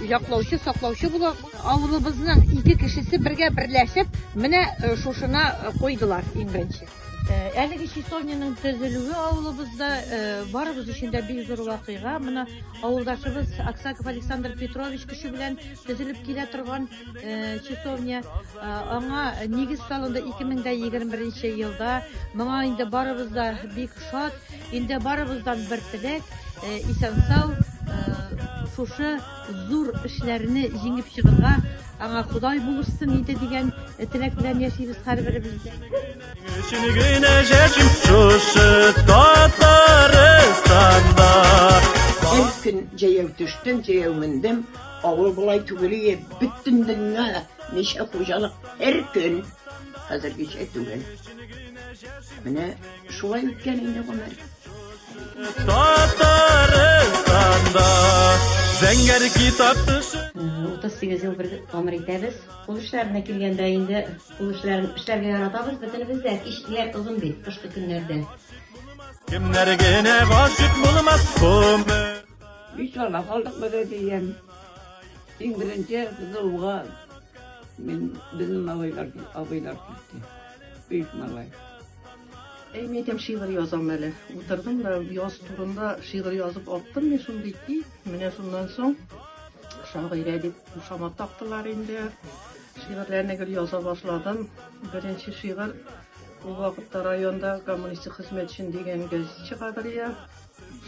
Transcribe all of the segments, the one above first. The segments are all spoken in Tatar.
яклаучы, саклаучы булып, авылыбызның ике кешесе бергә берләшеп, менә э, шушына э, койдылар иң беренче. Э, әлеге часовняның төзелүе авылыбызда барыбыз өчен дә бик зур вакыйга. Менә авылдашыбыз Аксаков Александр Петрович кеше белән төзелеп килә торган часовня. Аңа нигез салынды 2021 елда. Моңа инде барыбыз да бик шат. Инде барыбыздан бер теләк, исән-сау, шушы зур эшләрне җиңеп чыгырга, аңа Ходай булышсын иде дигән теләк белән яшибез һәрберебез. Һәр көн җәяү төштем, җәяү мендем, Авыл болай түгел ие, бөтен дөнья ничә хуҗалык һәр көн хәзергечә түгел. Менә шулай үткән инде гомер. Татарстанда зәңгәр китап төшә. 38 ел бер гомер итәбез. Кул эшләренә килгәндә инде, кул эшләрен эшләргә яратабыз бөтенебез дә. Кичләр озын бит, кышкы көннәрдә. Кемнәр генә гашык булмас, гомер. Биш бала калдык без әтием. Иң беренче кызылуга мин безнең малайлар, абыйлар китте. Биш малай. Әй, мин әйтәм, шигырь язам әле. Утырдым да яз турында шигырь язып аттым мин шундый ки, менә шуннан соң шагыйрә дип кушама тактылар инде. Шигырьләрне гел яза башладым. Беренче шигырь ул вакытта районда коммунистик хезмәтчен дигән газет чыга бер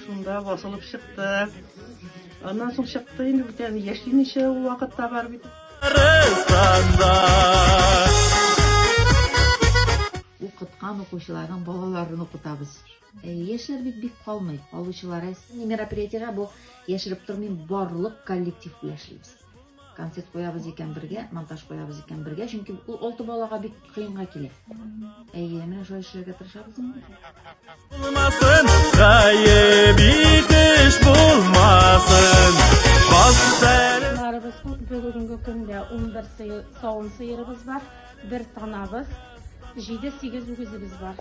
Шунда басылып чыкты. Аннан соң чыкты инде бит әле яшимичә ул вакытта бар бит. Укыткан укучыларның балаларын укытабыз. Э, яшьләр бит бик калмый, калучылар әз. Мероприятиегә бу яшереп тормыйм, барлык коллектив белән эшлибез. концерт куябыз икән бергә, монтаж куябыз икән бергә, чөнки ул алты балага бик кыенга килә. Әйе, менә шулай эшләргә тырышабыз инде. Булмасын, гаеп итеш булмасын. Бассарыбыз бүгенге көндә 11 сыер, савым сыерыбыз бар, бер танабыз, 7-8 үгезебез бар.